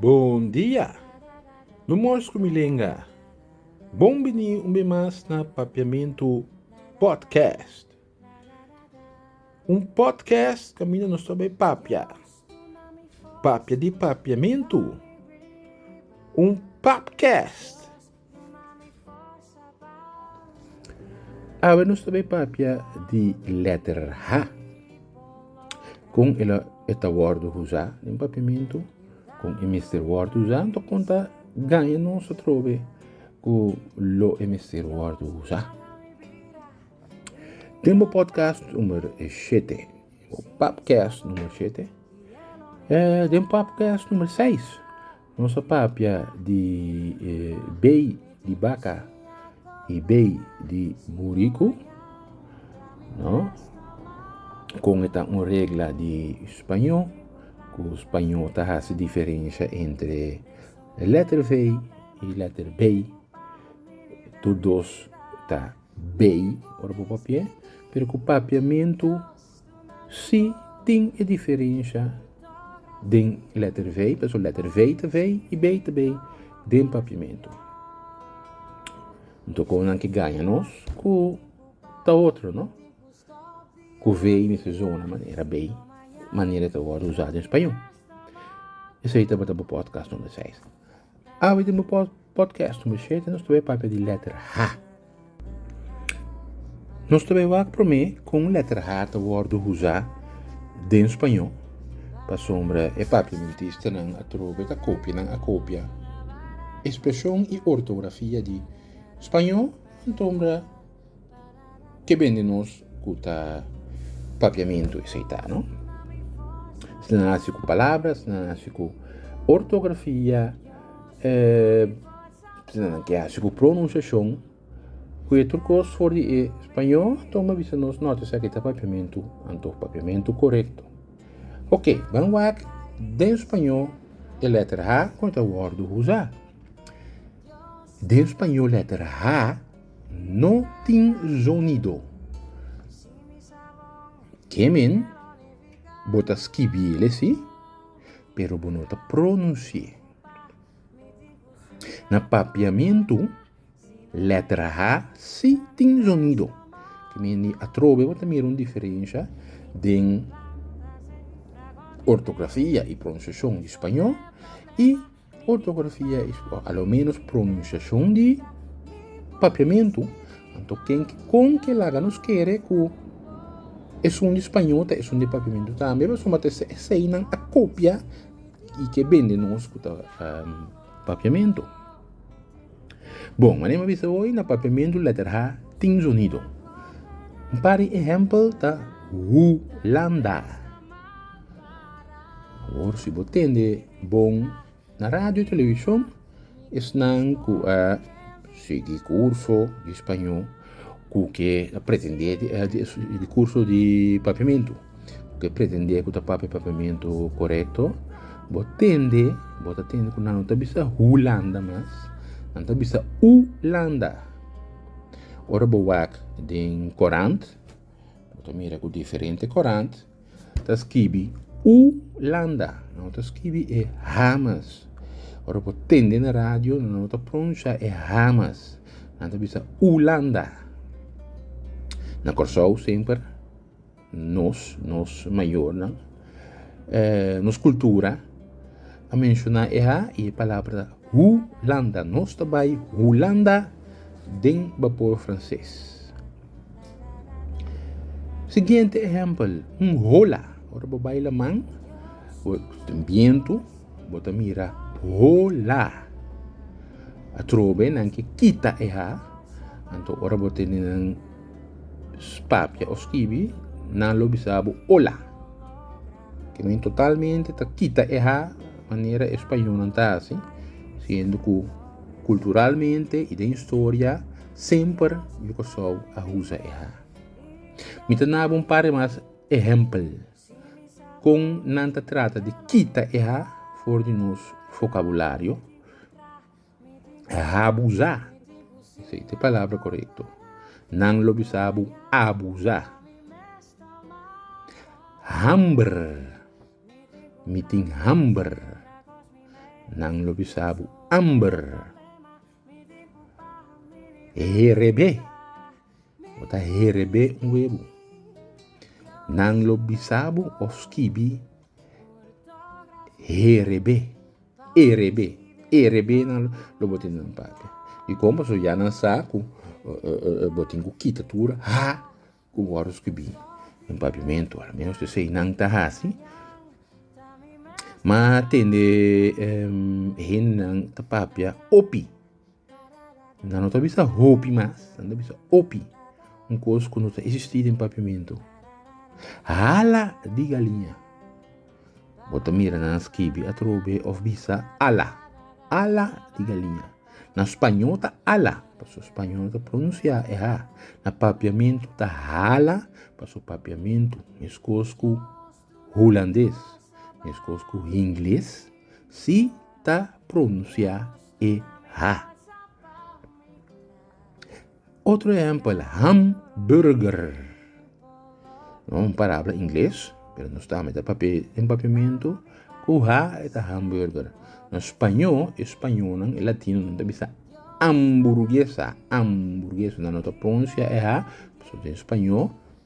Bon dia! Mi mors ku mi lenga. Bon bini un be mas na Papiamentu Podcast. Un podcast kaminda nos ta bai papia. Papia di papiamentu. Un papcast. Awe nos ta bai papia di letter H. Kon e lo e ta wordo usa den papiamentu, kon e mester wordo usa, anto kon ta gaña nos atrobe ku lo e mester wordo usa. Den bo podcast numer shete, bo papkèst numer shete, den papkèst numer seis, Nos a papia di bay di baka y bay di buriku no con e ta un regla di spaño cu spaño ta haci diferencia entre letter vey y letter bay tur dos ta bay ora bo papia pero cu papiamento. Si tin e diferensha den letter vei, por eso letter vei ta vei y bei ta bei den papiamento. Nto con nan ki gaña nos cu ta otro no? Cu vei mester uza una manera, bei manera e ta wordo uza den spañol. Esei tabata bo podcast number seis. Awe den bo podcast number shete nos ta papia di letter H. Nos ta bai wak promé ku un lèter H ta wòrdu uzá den spañó, pasobra e papiamentistanan atrobe ta kopia nan a kopia espreshon i ortografia di spañó, anto keben di nos ku ta papiamentu esei ta no? Si nan hasi ku palabra, si nan hasi ku ortografia. Tisana nan ke hasi ku pronunsiashon ku e tur kos for di e spañó, anto mi a bisa nos nota esaki ta papiamentu, anto papiamentu korekto. Ok, ban wak den spañó e leter ha kon ta wòrdu usá. Den spañó leter ha no tin zonido. Ke men bo ta skibiel esei pero bo no ta pronunsié. Na papiamentu letra h si tin zonido atrobe bo ta mira un diferensha den ortografia y pronunciacion di spañol y ortografia y pronunciacion di papiamentu anto con ke laga nos kere ku esun di spañol ta esun di papiamentu tambe pasobra eseinan a kopia. y ke bende nos ku ta papiamento. Bon, manera mi a bisa hoy, na papiamento letter H tin zonido. Un par di ehempel ta Hulanda. Awor si bo tende bon na radio y television, Esnan ku a sigui kurso di spañó ku ke a pretendé di kurso di papiamentu, ku ke a pretendé ku ta papia papiamentu korekto, bo tende, bo ta tende ku nan no ta bisa Hulanda mas, nan ta bisa Ulanda. Ora bo wak den korant, bo ta mira ku diferente korant. ta skibi Ulanda, nan no ta skibi e ha mas. Ora bo tende na radio, nan no ta pronunsha e ha mas. Nan ta bisa Ulanda. Na Kòrsou semper, nos, nos mayornan, eh, nos kultura, a menshoná e ha i e palabra ta Hulanda. Nos ta bai Hulanda den bapor franses. Siguiente ehempel, un hola. Ora bo bai laman, bo tin bientu, bo ta mira hola. Atrobe nan ke kita e ha, anto ora bo tene nan papia o skibi, nan lo bisa bo ola. Ke men totalmente ta kita e ha manera e spañolnan ta hasi, siendo ku kulturalmente i den historia semper yu Kòrsou a usa e ha. Mi ta naba un par di mas ehèmpel kon nan ta trata di kita e ha for di nos fokabulario. Abusá, esei ta e palabra korekto. Nan lo bisa bo abusá. Hamber, mi tin hamber. Nan lo bisa bo hamber. Hereb'é, bo ta hereb'é un webo. Nan lo bisa bo of skibi hereb'é. e rebe, e rebe nan lo lo bo tin duna papia, y con pasobra ya nan sa cu bo tin cu kita tur ha cu bo a ruskibí un paviamento, al menos esey nan ta haci, ma tende hende nan ta papia hopi Nan no ta bisa hopi mas, nan ta bisa opi. Un kos ku no ta existi den papiamentu. Hala di galiña. Bo ta mira nan skibi atrobe of bisa ala. Ala di galiña. Na spañol ta ala, paso spañol no ta pronunsia e ha. Na papiamentu ta hala, paso papiamentu es kos ku. Hulandes, meskos ku Hingles, si ta pronunsiá e H. Otro ehèmpel, hamburger. No un parabla ingles, pero nos ta mete papia den papiamentu, ku H e ta hamburger. Na spañó, e spañónan, e latinonan ta bisa amburguesa, amburguesa, nan no ta pronunsiá e H, pasobra den spañó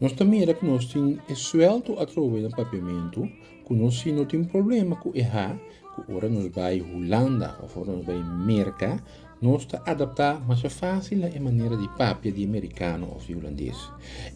Nos ta mira ku nos tin e suelto atrobe na papiamentu ku no si no tin problema ku e ha ku ora nos bai Hulanda of ora nos bai Merka nos ta adaptá masha fásil na e manera di papia di e merikano of di hulandes.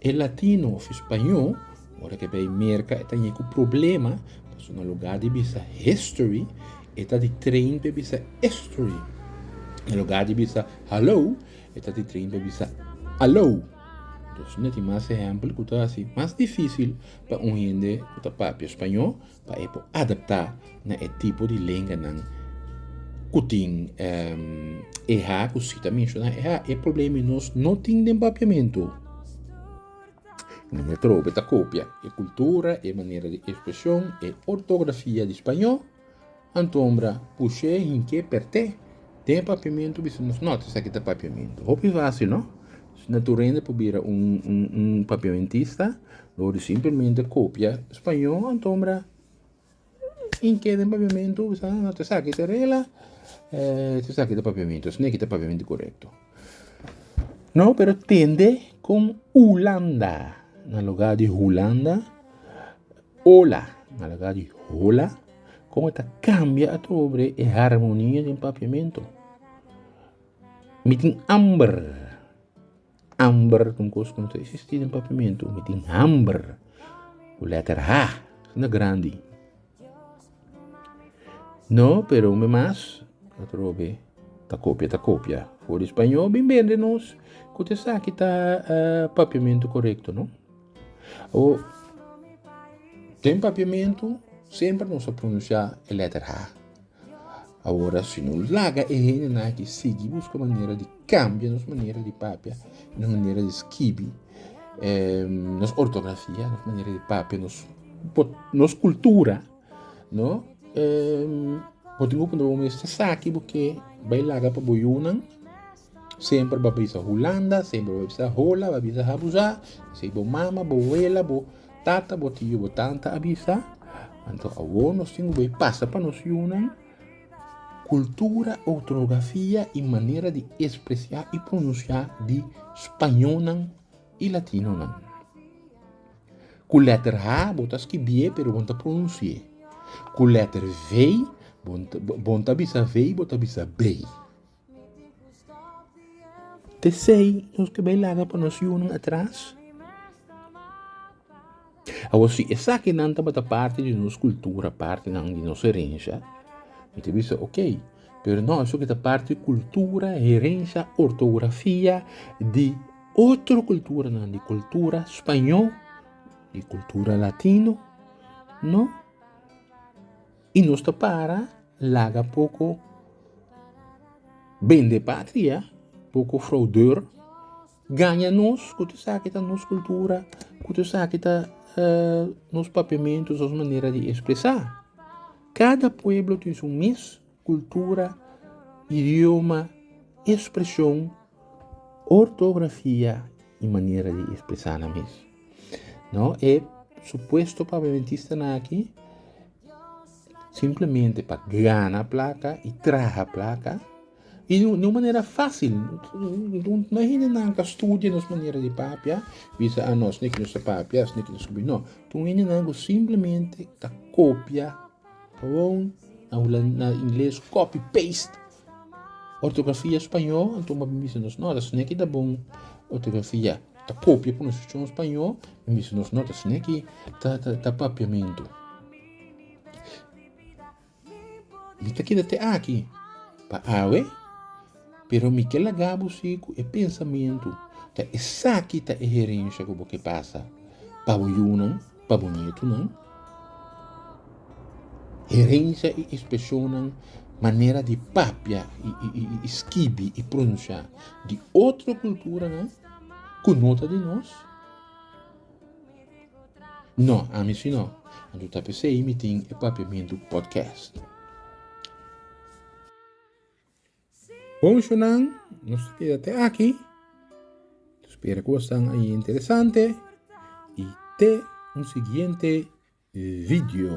E latino of e spañó ora ke bai Merka e ta ña ku problema pasobra na lugá di bisa history e ta di train p'e bisa estory. Na lugá di bisa hallo e ta di train p'e bisa allo. Nos na tin mas ehèmpel ku ta hasi mas difísil pa un hende ku ta papia spañó pa e por adaptá na e tipo di lenganan ku tin ehá ku si ta menshoná ehá. E problema i nos no tin den papiamentu. Mi no me trobe ta kopia e kultura, e manera di ekspreshon, e ortografia di spañó. Anto hombra push'é hink'é pert'é den papiamentu bisa nos no ta esaki ta papiamentu hopi fasil no na tur hende por bira un papiamentista lo di simplemente kopia spañó anto hombra hink'é den papiamentu bisa no ta esaki ta regla ta esaki ta papiamentu esaki no ta papiamentu korekto no pero tende kon hulanda na lugar di hulanda. Ola, na lugar di hola, kon e ta kambia atrobre e harmonia den papiamentu. Mi tin amber, amber ta un kos ku no ta existi den papiamentu. Mi tin hamber, ku letter H na grandi. No, pero mi mas atrobe ta kopia, ta kopia. For di spañol, bin bende nos ku ta esaki ta papiamentu korekto, no. O den papiamentu semper nos a pronuncia e letter H. Awor si no laga e hendenan aki sigui busca manera di cambia nos manera di papia, nos manera di skibi, nos ortografia, nos manera di papia, nos cultura, no, bo tin opinan bo mes esaki bo ke bay laga pa bo yunan Semper bo a bisa Hulanda, semper bo a bisa hola, bo a bisa habuza, esei bo mama, bo wela, bo tata, bo tio, bo tanta a bisa. Anto awor nos tin ku bo a pasa pa nos yunan kultura, ortografia i manera di espresiá i prununsiá di spañónan i latinonan. Ku lèter h bo ta skibié pero bo no ta prununsié. Ku lèter vei bo no ta bisa vei, bo ta bisa bey. Tecei nos ke bai laga pa nos yunan atras? Awor si esaki nan tabata parti di nos kultura parti nan di nos herensha mi ta bisa ok pero no eso kita parti kultura herensha ortografia di otro kultura nan di kultura spaño di kultura latino no. I nos ta para laga poko bende patria, poko fraudor gaña nos ku ta sa ki ta nos kultura, ku ta sa ki ta nos papiamentus, nos manera di espresá. Kada pueblo tin su mes kultura, idioma, espreshon, ortografia. i manera di espresá nan mes. No e supuesto pa adventistanan aki simplemente pa gana plaka i traha plaka i di un manera fásil. No e hendenan ka studia nos manera di papia bisa a nos esaki nos ta papia esaki nos ta papia no. Ton hendenan ku simplemente ta kopia. Pabon a hula na ingles copy paste ortografia spaño anto bo a bisa nos nota sino aki ta bon ortografia ta copia pronunciacion spaño a bisa nos nota sino aki ta papiamento mi ta keda te aki pa awe. Pero mi ke laga bo si ku e pensamentu, ta esaki ta e herensha ku bo ke pasa pa bo yunan, pa bo nietunan. Herensha i espresionnan, manera di papia i skibi i pronunshá di otro kulturanan ku no ta di nos? No, ami si no. Anto ta p'esei mi tin e Papiamentu Podcast. Ponchonan nos ta keda te aki spera ku bo stan ahi interesante y te un siguiente video.